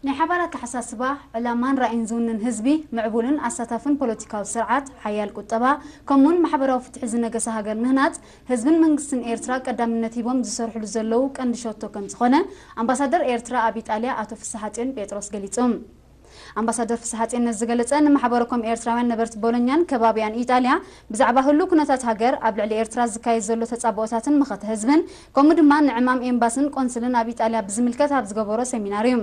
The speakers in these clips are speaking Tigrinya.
ናይ ሓባር ኣተሓሳስባ፣ ዕላማን ራኢን ዝውንን ህዝቢ፣ ምዕቡልን ኣሳታፍን ፖለቲካዊ ስርዓት፣ ሓያል ቁጠባ፣ ከምኡውን ማሕበራዊ ፍትሒ ዝነገሳ ሃገር ምህናጽ፣ ህዝብን መንግስትን ኤርትራ ቀዳምነት ሂቦም ዝሰርሕሉ ዘለዉ ቀንዲ ሸቶ ከምዝኾነ፣ ኣምባሳደር ኤርትራ ኣብ ኢጣልያ ኣቶ ፍስሓጽዮን ጴጥሮስ ገሊጹ። ኣምባሳደር ፍስሓጼን ነዚ ዝገለጸ ንማሕበረኮም ኤርትራውያን ነበርቲ ቦሎኛን ከባቢኣን ኢጣልያ ብዛዕባ ህሉው ኩነታት ሃገር፣ ኣብ ልዕሊ ኤርትራ ዝካየድ ዘሎ ተጻብኦታትን መኸተ ህዝብን ከምኡ ድማ ንዕማም ኤምባስን ቆንስልን ኣብ ኢጣልያ ብዝምልከት ኣብ ዝገበሮ ሰሚናር እዩ።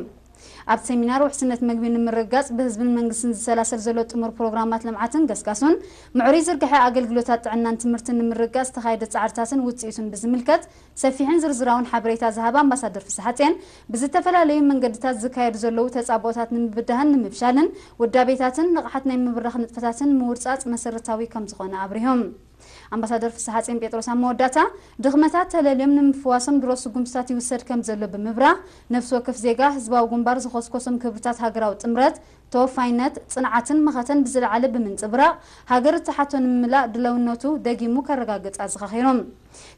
ኣብቲ ሰሚናር ውሕስነት መግቢ ንምርግጋጽ ብህዝብን መንግስትን ዝሰላሰል ዘሎ ጥሙር ፕሮግራማት ልምዓትን ገስጋሱን፣ ምዕሩይ ዝርግሐ ኣገልግሎታት ጥዕናን ትምህርትን ንምርግጋጽ ዝተኻየደ ጻዕርታትን ውጽኢቱን ብዝምልከት ሰፊሕን ዝርዝራውን ሓበሬታ ዝሃባ ኣምባሳደር ፍስሓጽየን፣ ብዝተፈላለዩ መንገድታት ዝካየዱ ዘለዉ ተጻብኦታት ንምብዳህን ንምፍሻልን ውዳቤታትን ንቕሓት ናይ ምብራኽ ንጥፈታትን ምውርጻጽ መሰረታዊ ከምዝኾነ ኣብሪሆም። ኣምባሳደር ፍስሓጽየን ጴጥሮስ ኣብ መወዳእታ፣ ድኽመታት ተለልዮም ንምፍዋሶም ድሮ ስጉምትታት ይውሰድ ከምዘሎ ብምብራህ፣ ነፍሲ ወከፍ ዜጋ ህዝባዊ ግንባር ዝኾስኮሶም ክብርታት ሃገራዊ ጥምረት፣ ተወፋይነት፣ ጽንዓትን መኸተን ብዝለዓለ ብምንጽብራቕ፣ ሃገር እትሓቶ ንምምላእ ድለውነቱ ደጊሙ ከረጋግጽ ኣዘኻኺሮም።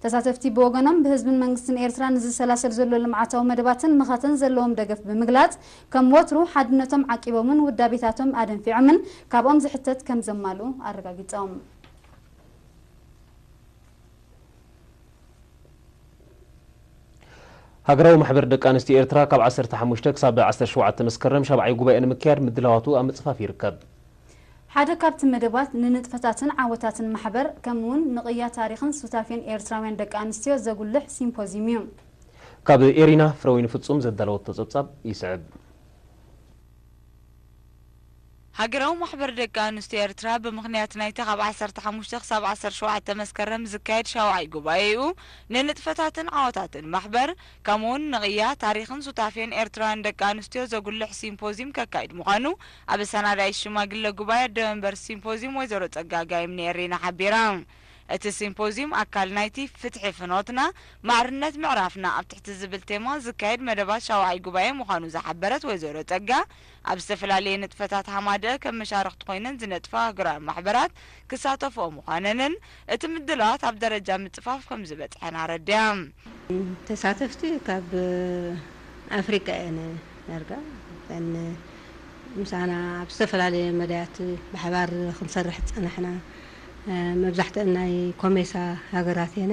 ተሳተፍቲ ብወገኖም ብህዝብን መንግስትን ኤርትራ ንዝሰላሰል ዘሎ ልምዓታዊ መደባትን መኸተን ዘለዎም ደገፍ ብምግላጽ ከም ወትሩ ሓድነቶም ዓቂቦምን ውዳቤታቶም ኣደንፊዖምን ካብኦም ዝሕተት ከም ዘማልኡ ኣረጋጊጾም። ሃገራዊ ማሕበር ደቂ ኣንስትዮ ኤርትራ ካብ ዓሰርተ ሓሙሽተ ክሳብ ዓሰርተ ሸውዓተ መስከረም ሻብዓይ ጉባኤኡ ንምክያድ ምድላዋቱ ኣብ ምጽፋፍ ይርከብ። ሓደ ካብቲ መደባት ንንጥፈታትን ዓወታትን ማሕበር ከምኡውን ንቕያ ታሪኽን ሱታፌን ኤርትራውያን ደቂ ኣንስትዮ ዘጉልሕ ሲምፖዝዩም እዩ። ካብ ኤሪና ፍረወይኒ ፍጹም ዘዳለወቶ ጸብጻብ ይስዕብ። ሃገራዊ ማሕበር ደቂ ኣንስትዮ ኤርትራ ብምኽንያት ናይቲ ካብ ዓሰርተ ሓሙሽተ ክሳብ ዓሰርተ ሸውዓተ መስከረም ዝካየድ ሻውዓይ ጉባኤኡ ንንጥፈታትን ዓወታትን ማሕበር ከምኡውን ንቕያ ታሪኽን ሱታፌን ኤርትራውያን ደቂ ኣንስትዮ ዘጉልሕ ሲምፖዝዩም ከካይድ ምዃኑ ኣብ ኣሰናዳኢት ሽማግለ ጉባኤ ኣደ መንበር ሲምፖዝዩም ወይዘሮ ጸጋ ጋይም ንኤሪና ሓቢራ። እቲ ሲምፖዝዩም ኣካል ናይቲ ፍትሒ ፍኖትና፣ ማዕርነት ምዕራፍና ኣብ ትሕቲ ዝብል ቴማ ዝካየድ መደባት ሻውዓይ ጉባኤ ምዃኑ ዝሓበረት ወይዘሮ ጸጋ፣ ኣብ ዝተፈላለየ ንጥፈታት ሃማደኤ ከም መሻርኽቲ ኮይነን ዝነጥፋ ኣህጉራዊ ማሕበራት ክሳተፍኦ ምዃነንን እቲ ምድላዋት ኣብ ደረጃ ምጽፋፍ ከም ዝበጽሐን ኣረዲኣ። ተሳተፍቲ ካብ ኣፍሪቃ እየን ዳርጋ። እተን ምሳና ኣብ ዝተፈላለየ መዳያት ብሓባር ክንሰርሕ ዝጸናሕና መብዛሕትአን ናይ ኮሜሳ ሃገራት እየን።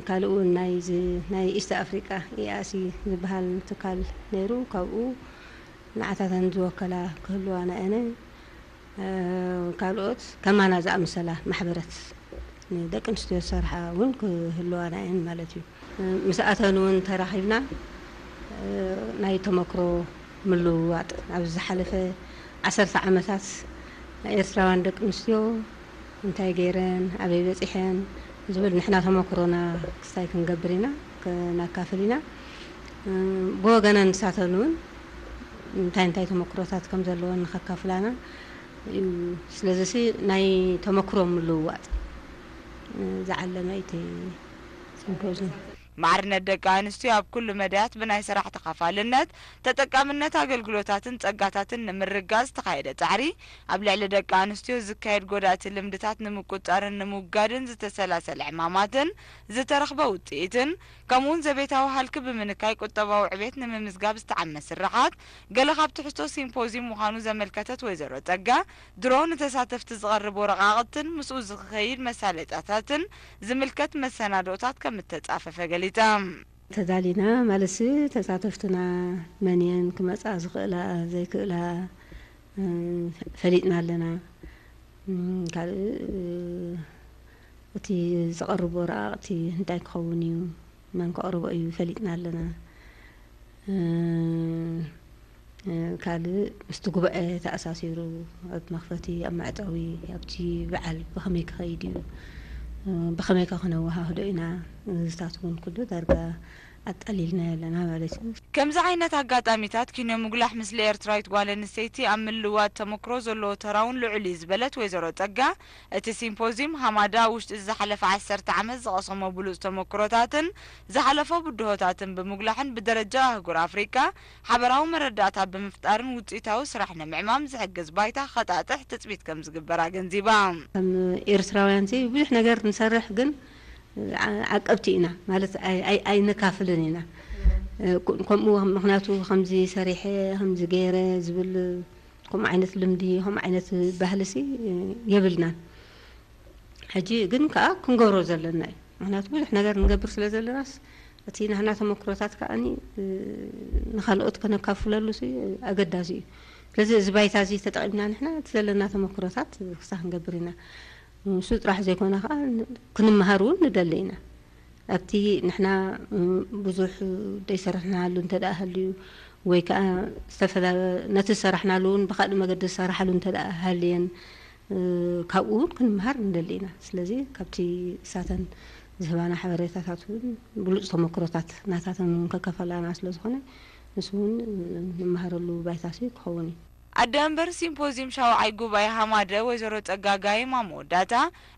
ካልእ እውን ናይዚ ናይ ኢስት ኣፍሪቃ ኢኣሲ ዝበሃል ትካል ነይሩ ካብኡ ንዓታተን ዝወከላ ክህልዋ ናየነ ካልኦት ከማና ዝኣመሰላ ማሕበረት ንደቂ ኣንስትዮ ዝሰርሓ እውን ክህልዋ ናየን ማለት እዩ ምስኣተን እውን ተራኺብና ናይ ተመክሮ ምልውዋጥ ኣብዚ ዝሓለፈ ዓሰርተ ዓመታት ኤርትራውያን ደቂ ኣንስትዮ እንታይ ገይረን ኣበይ በጺሐን ዝብል ንሕና ተሞክሮና ክስታይ ክንገብር ኢና ክነካፍል ኢና ብወገነን ንሳተን ውን እንታይ እንታይ ተሞክሮታት ከም ዘለወን ንከካፍላና እዩ ስለዚሲ ናይ ተሞክሮ ምልውዋጥ ዝዓለመ እዩ እቲ ሲምፖዝዩም። ማዕርነት ደቂ ኣንስትዮ ኣብ ኩሉ መዳያት ብናይ ሰራሕ ተኻፋልነት፣ ተጠቃምነት ኣገልግሎታትን ጸጋታትን ንምርግጋጽ ዝተኻየደ ጻዕሪ፣ ኣብ ልዕሊ ደቂ ኣንስትዮ ዝካየድ ጎዳእቲ ልምድታት ንምቁጽጻርን ንምውጋድን ዝተሰላሰለ ዕማማትን ዝተረኽበ ውጽኢትን፣ ከምኡ'ውን ዘቤታዊ ሃልኪ ብምንካይ ቁጠባዊ ዕቤት ንምምዝጋብ ዝተዓመ ስርሓት፣ ገለ ካብ ትሕዝቶ ሲምፖዝዩም ምዃኑ ዘመልከተት ወይዘሮ ጸጋ፣ ድሮ ንተሳተፍቲ ዝቐርብ ወረቓቕትን ምስኡ ዝክኸይድ መሳለጥያታትን ዝምልከት መሰናድኦታት ከም እተጻፈፈ ገሊጻ። ተዳሊና ማለትሲ ተሳተፍትና መን እየን ክመጻ ዝኽእላ ዘይክእላ ፈሊጥና ኣለና። ካልእ እቲ ዝቐርብ ወረቓቕቲ እንታይ ክኸውን እዩ መን ከቕርቦ እዩ ፈሊጥና ኣለና ካልእ ምስቲ ጉባኤ ተኣሳሲሩ ኣብ መኽፈቲ ኣብ መዕጸዊ ኣብቲ በዓል ብኸመይ ክኸይድ እዩ ብኸመይ ከ ክነወሃህዶ ኢና እዚታት እውን ኩሉ ዳርጋ ኣጣሊልናዮ ኣለና ማለት እዩ። ከምዚ ዓይነት ኣጋጣሚታት ኪኖ ምጉላሕ ምስሊ ኤርትራዊት ጓል ኣንስተይቲ ኣብ ምልውዋጥ ተመክሮ ዘለዎ ተራ'ውን ልዑል እዩ ዝበለት ወይዘሮ ጸጋ፣ እቲ ሲምፖዝዩም ሃማዳ ኣብ ውሽጢ እዚ ዝሓለፈ ዓሰርተ ዓመት ዝቐሰሞ ብሉጽ ተመኩሮታትን ዝሓለፎ ብድሆታትን ብምጉላሕን ብደረጃ ኣህጉር ኣፍሪቃ ሓበራዊ መረዳእታ ብምፍጣርን ውጽኢታዊ ስራሕ ንምዕማም ዝሕግዝ ባይታ ክኸጣጥሕ ትጽቢት ከምዝግበር ኣገንዚባ። ከም ኤርትራውያንሲ ብዙሕ ነገር ንሰርሕ ግን ዓቀብቲ ኢና ማለት ኣይነካፍልን ኢና ከምኡ ምክንያቱ ከምዚ ሰሪሐ ከምዚ ገይረ ዝብል ከምኡ ዓይነት ልምዲ ከምኡ ዓይነት ባህሊሲ የብልናን። ሕጂ ግን ከኣ ክንገብሮ ዘለና እዩ። ምኽንያቱ ብዙሕ ነገር ንገብር ስለ ዘለናስ እቲ ናህና ተመክሮታት ከኣኒ ንኻልኦት ከነካፍለሉሲ ኣገዳሲ እዩ። ስለዚ እዚ ባይታዚ ተጠቒምና ንሕና እቲ ዘለና ተመክሮታት ክሳ ክንገብር ኢና። ንሱ ጥራሕ ዘይኮነ ከኣ ክንመሃር እውን ንደሊ ኢና። ኣብቲ ንሕና ብዙሕ ደይሰራሕናሉ እንተድኣ ሃልዩ ወይ ከኣ ዝተፈላ ነቲ ዝሰራሕናሉ እውን ብካልእ መገዲ ዝሰራሓሉ እንተድኣ ሃልየን ካብኡ እውን ክንምሃር ንደሊ ኢና። ስለዚ ካብቲ እሳተን ዝህባና ሓበሬታታት እውን ብሉጽ ተመክሮታት ናታተን እውን ከከፈላና ስለዝኾነ ንሱ እውን ንምሃረሉ ባይታ ክኸውን እዩ። ኣደ ኣምበር ሲምፖዝዩም ሻውዓይ ጉባኤ ሃማደ ወይዘሮ ጸጋጋይም ኣብ መወዳእታ፣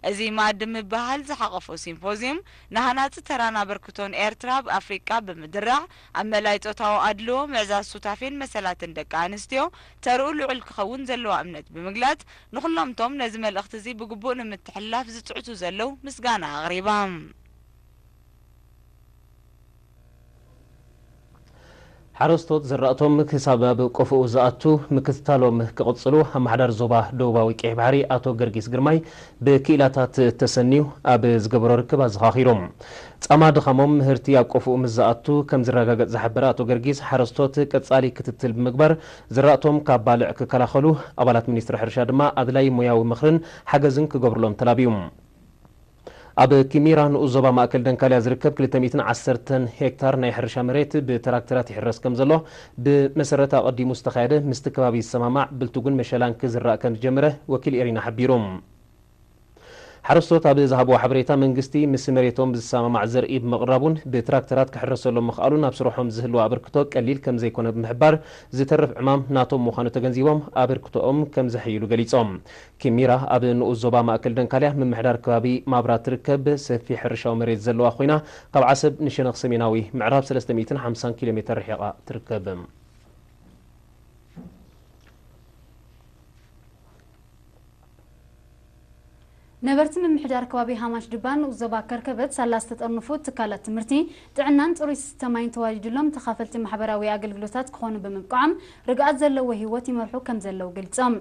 እዚ መኣዲ ምብህሃል ዝሓቐፎ ሲምፖዝዩም፣ ንሃናጺ ተራን ኣበርክቶን ኤርትራ ኣብ ኣፍሪቃ ብምድራዕ፣ ኣብ መላኢ ጾታዊ ኣድልዎ፣ ምዕዛዝ ሱታፌን መሰላትን ደቂ ኣንስትዮ፣ ተርኡ ልዑል ክኸውን ዘለዋ እምነት ብምግላጽ፣ ንኹሎም'ቶም ነዚ መልእኽቲ'ዚ ብግቡእ ንምትሕልላፍ ዝጽዕቱ ዘለዉ ምስጋና ኣቕሪባ። ሓረስቶት ዝራእቶም ክሳብ ኣብ ቆፎኡ ዝኣቱ ምክትታሎም ክቕፅሉ ኣመሓዳሪ ዞባ ደቡባዊ ቀይሕ ባሕሪ ኣቶ ገርጊስ ግርማይ ብክኢላታት ተሰንዩ ኣብ ዝገበሮ ርክብ ኣዘኻኺሩ። ፃማ ድኻሞም ምህርቲ ኣብ ቆፎኡ ምስ ዝኣቱ ከምዝረጋገፅ ዝሓበረ ኣቶ ገርጊስ ሓረስቶት ቀፃሊ ክትትል ብምግባር ዝራእቶም ካብ ባልዕ ክከላኸሉ ኣባላት ሚኒስትሪ ሕርሻ ድማ ኣድላይ ሞያዊ ምኽርን ሓገዝን ክገብሩሎም ተላብዩ። ኣብ ኪሚራ ንኡስ ዞባ ማእከል ደንካልያ ዝርከብ ክልተ ሚእትን ዓሰርተን ሄክታር ናይ ሕርሻ መሬት ብትራክተራት ይሕረስ ከምዘሎ ብመሰረት ኣቐዲሙ ዝተኻየደ ምስቲ ከባቢ ዝሰማማዕ ብልቱግን መሸላን ክዝራእ ከምዝጀመረ ወኪል ኤሪና ሓቢሩ። ሓረስቶት ኣብ ዝሃብዎ ሓበሬታ መንግስቲ ምስ መሬቶም ብዝሰማማዕ ዘርኢ ብምቕራቡን ብትራክተራት ክሕረሰሎም ምኽኣሉን ኣብ ስርሖም ዝህልዎ ኣበርክቶ ቀሊል ከምዘይኮነ ብምሕባር ዝተርፍ ዕማም ናቶም ምዃኑ ተገንዚቦም ኣበርክቶኦም ከምዘሐይሉ ገሊፆም። ኪሚራ ኣብ ንኡስ ዞባ ማእከል ደንካልያ ምምሕዳር ከባቢ ማብራ ትርከብ ሰፊሕ ሕርሻዊ መሬት ዘለዋ ኮይና፣ ካብ ዓሰብ ንሸነኽ ሰሜናዊ ምዕራብ ሰለስተ ሚእትን ሓምሳን ኪሎ ሜተር ርሒቓ ትርከብ። ነበርቲ ምምሕዳር ከባቢ ሃማች ድባ ንኡስ ዞባ ከርከበት ሳላ ዝተጠርንፉ ትካላት ትምህርቲ፣ ጥዕናን ጽሩይ ዝስተ ማይን ተዋዲድሎም ተኻፈልቲ ማሕበራዊ ኣገልግሎታት ክኾኑ ብምብቅዖም ርግኣት ዘለዎ ህይወት ይመርሑ ከምዘለዉ ገሊጾም።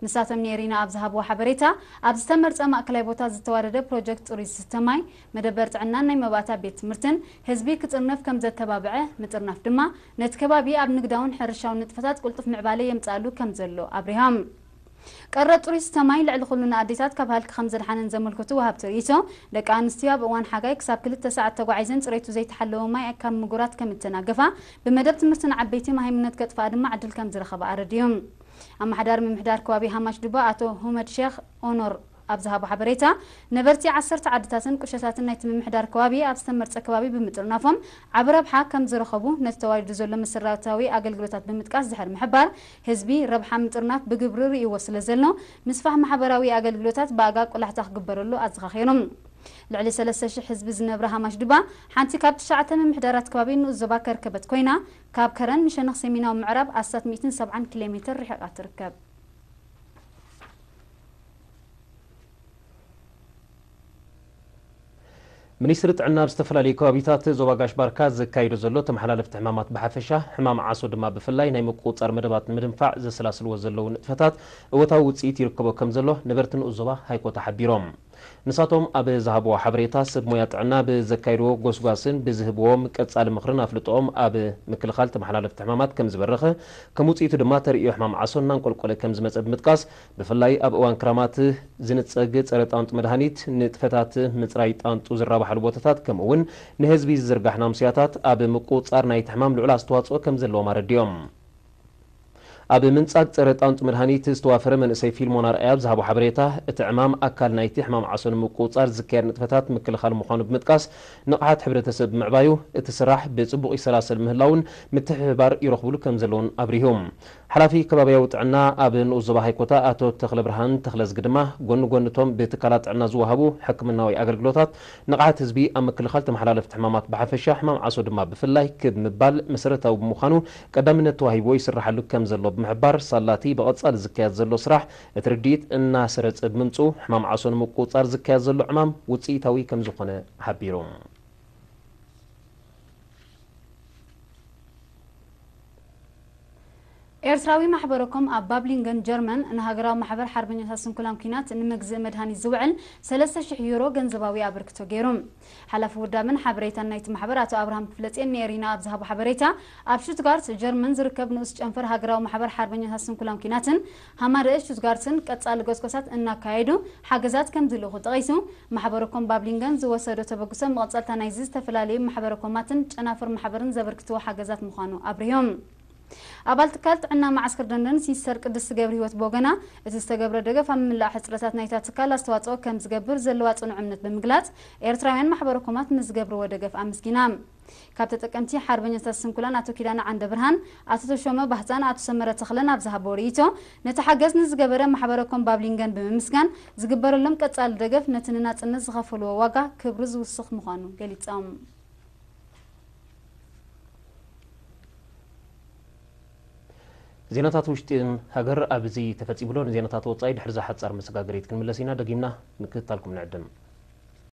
ንሳቶም ንኤሪና ኣብ ዝሃብዎ ሓበሬታ፣ ኣብ ዝተመርጸ ማእከላይ ቦታ ዝተዋደደ ፕሮጀክት ጽሩይ ዝስተ ማይ፣ መደበር ጥዕናን ናይ መባእታ ቤት ትምህርትን፣ ህዝቢ ክጥርነፍ ከም ዘተባብዐ፣ ምጥርናፍ ድማ ነቲ ከባቢ ኣብ ንግዳውን ሕርሻውን ንጥፈታት ቅልጡፍ ምዕባለ የምጽኣሉ ከም ዘሎ ኣብሪሆም። ቀረብ ጽሩይ ዝስተ ማይ ልዕሊ ኩሉ ንኣዴታት ካብ ሃልኪ ከም ዘድሓነን ዘመልክቱ ወሃብቲ ርእይቶ፣ ደቂ ኣንስትዮ ኣብ እዋን ሓጋይ ክሳብ ክልተ ሰዓት ተጓዒዘን ጽሬቱ ዘይተሓለወ ማይ ካብ ምጉራት ከም እተናገፋ፣ ብመደብ ትምህርቲ ንዓበይቲ መሃይምነት ከጥፍኣ ድማ ዕድል ከም ዝረኸባ ኣረዲኡም። ኣመሓዳሪ ምምሕዳር ከባቢ ሃማች-ዱባ ኣቶ ሁመድ ሼኽ ኦኖር ኣብ ዝሃቦ ሓበሬታ፣ ነበርቲ ዓሰርተ ዓድታትን ቁሸታትን ናይቲ ምምሕዳር ከባቢ ኣብ ዝተመርጸ ከባቢ ብምጥርናፎም ዓቢ ረብሓ ከም ዝረኸቡ ነቲ ተዋዲዱ ዘሎ መሰረታዊ ኣገልግሎታት ብምጥቃስ ድሕሪ ምሕባር፣ ህዝቢ ረብሓ ምጥርናፍ ብግብሪ ርእይዎ ስለ ዘሎ ምስፋሕ ማሕበራዊ ኣገልግሎታት ብኣጋ ቆላሕታ ክግበረሉ ኣዘኻኺሩ። ልዕሊ ሰለስተ ሽሕ ህዝቢ ዝነብራ ሃማች-ዱባ ሓንቲ ካብ ትሽዓተ ምምሕዳራት ከባቢ ንኡስ ዞባ ከርከበት ኮይና፣ ካብ ከረን ንሸነኽ ሰሜናዊ ምዕራብ ኣስታት ሚእትን ሰብዓን ኪሎ ሜተር ርሒቓ ትርከብ። ሚኒስትሪ ጥዕና ኣብ ዝተፈላለዩ ከባቢታት ዞባ ጋሽ ባርካ ዘካይዶ ዘሎ ተመሓላለፍቲ ሕማማት ብሓፈሻ፣ ሕማም ዓሶ ድማ ብፍላይ ናይ ምቁፅፃር መደባት ንምድንፋዕ ዘሰላስልዎ ዘለዉ ንጥፈታት እወታዊ ውፅኢት ይርከቦ ከምዘሎ ነበርቲ ንኡስ ዞባ ሃይኮታ ሓቢሮም። ንሳቶም ኣብ ዝሃብዎ ሓበሬታ፣ ሰብ ሞያ ጥዕና ብዘካይድዎ ጎስጓስን ብዝህብዎም ቀጻሊ ምኽርን ኣፍልጦኦም ኣብ ምክልኻል ተመሓላለፍቲ ሕማማት ከምዝበረኸ፣ ከም ውጽኢቱ ድማ ተርእዮ ሕማም ዓሶ እናንቆልቆለ ከምዝመጸ ብምጥቃስ፣ ብፍላይ ኣብ እዋን ክራማት ዝንጸግ ጸረ ጣንጡ መድሃኒት፣ ንጥፈታት ምጽራይ ጣንጡ ዝራባሓሉ ቦታታት ከምኡ'ውን ንህዝቢ ዝዝርጋሕ ናምስያታት ኣብ ምቁጽጻር ናይቲ ሕማም ልዑል ኣስተዋጽኦ ከምዘለዎም ኣረዲኦም። ኣብ ምንጻግ ጸረ ጣንጡ መድሃኒት ዝተዋፈረ መንእሰይ ፊልሞን ኣርኣያ ኣብ ዝሃቦ ሓበሬታ፣ እቲ ዕማም ኣካል ናይቲ ሕማም ዓሶ ንምቁጽጻር ዝካየድ ንጥፈታት ምክልኻል ምዃኑ ብምጥቃስ፣ ንቕሓት ሕብረተሰብ ብምዕባዩ እቲ ስራሕ ብጽቡቕ ይሰላሰል ምህላዉን ምትሕብባር ይረኽቡሉ ከምዘለዉን ኣብሪሁ። ሓላፊ ከባብያዊ ጥዕና ኣብ ንኡስ ዞባ ሃይኮታ ኣቶ ተኽለብርሃን ተኽለዝጊ ድማ፣ ጎኒ ጎኒ እቶም ብትካላት ጥዕና ዝወሃቡ ሕክምናዊ ኣገልግሎታት፣ ንቕሓት ህዝቢ ኣብ ምክልኻል ተመሓላለፍቲ ሕማማት ብሓፈሻ፣ ሕማም ዓሶ ድማ ብፍላይ ክብ ምባል መሰረታዊ ብምዃኑ፣ ቀዳምነት ተዋሂብዎ ይስራሓሉ ከም ዘሎ ብምሕባር፣ ሳላ'ቲ ብቐጻሊ ዝካየድ ዘሎ ስራሕ፣ እቲ ርድኢት እናሰረጸ ብምምጽኡ፣ ሕማም ዓሶ ንምቁጽጻር ዝካየድ ዘሎ ዕማም ውጽኢታዊ ከም ዝኾነ ሓቢሩ። ኤርትራዊ ማሕበረ-ኮም ኣብ ባብሊንገን ጀርመን ንሃገራዊ ማሕበር ሓርበኛታት ስንኩላን ኲናት ንመግዝኢ መድሃኒት ዝውዕል ሰለስተ ሽሕ ዩሮ ገንዘባዊ ኣበርክቶ ገይሩ። ሓላፊ ውዳበን ሓበሬታን ናይቲ ማሕበር ኣቶ ኣብርሃም ክፍለጼን ንኤሪና ኣብ ዝሃቦ ሓበሬታ፣ ኣብ ሽቱትጋርት፣ ጀርመን ዝርከብ ንኡስ ጨንፈር ሃገራዊ ማሕበር ሓርበኛታት ስንኩላን ኲናትን ሃማደኤ ሽቱትጋርትን ቀጻሊ ጎስጓሳት እናካየዱ ሓገዛት ከምዝልእኹ ጠቒሱ፣ ማሕበረኮም ባብሊንገን ዝወሰዶ ተበግሶ መቐጸልታ ናይዚ ዝተፈላለዩ ማሕበረኮማትን ጨናፍር ማሕበርን ዘበርክትዎ ሓገዛት ምዃኑ ኣብሪሁ። ኣባል ትካል ጥዕና መዓስከር ደንደን ሲስተር ቅድስቲ ገብርሂወት ብወገና፣ እቲ ዝተገብረ ደገፍ ኣብ ምምላእ ሕጽረታት ናይታ ትካል ኣስተዋጽኦ ከም ዝገብር ዘለዋ ጽኑዕ እምነት ብምግላጽ፣ ኤርትራውያን ማሕበረኮማት ንዝገብርዎ ደገፍ ኣመስጊና። ካብ ተጠቀምቲ ሓርበኛታት ስንኩላን ኣቶ ኪዳነ ዓንደብርሃን፣ ኣቶ ተሾመ ባህታን ኣቶ ሰመረ ተኽለን ኣብ ዝሃብዎ ርእይቶ፣ ነቲ ሓገዝ ንዝገበረ ማሕበረኮም ባብሊንገን ብምምስጋን፣ ዝግበረሎም ቀጻሊ ደገፍ ነቲ ንናጽነት ዝኸፈልዎ ዋጋ ክብሪ ዝውስኽ ምዃኑ ገሊጾም። ዜናታት ውሽጢ ሃገር ኣብዚ ተፈፂሙሎ ንዜናታት ወፃኢ ድሕሪ እዛ ሓፃር መሰጋገሪት ክንምለስ ኢና። ደጊምና ምክትታልኩም ንዕድም።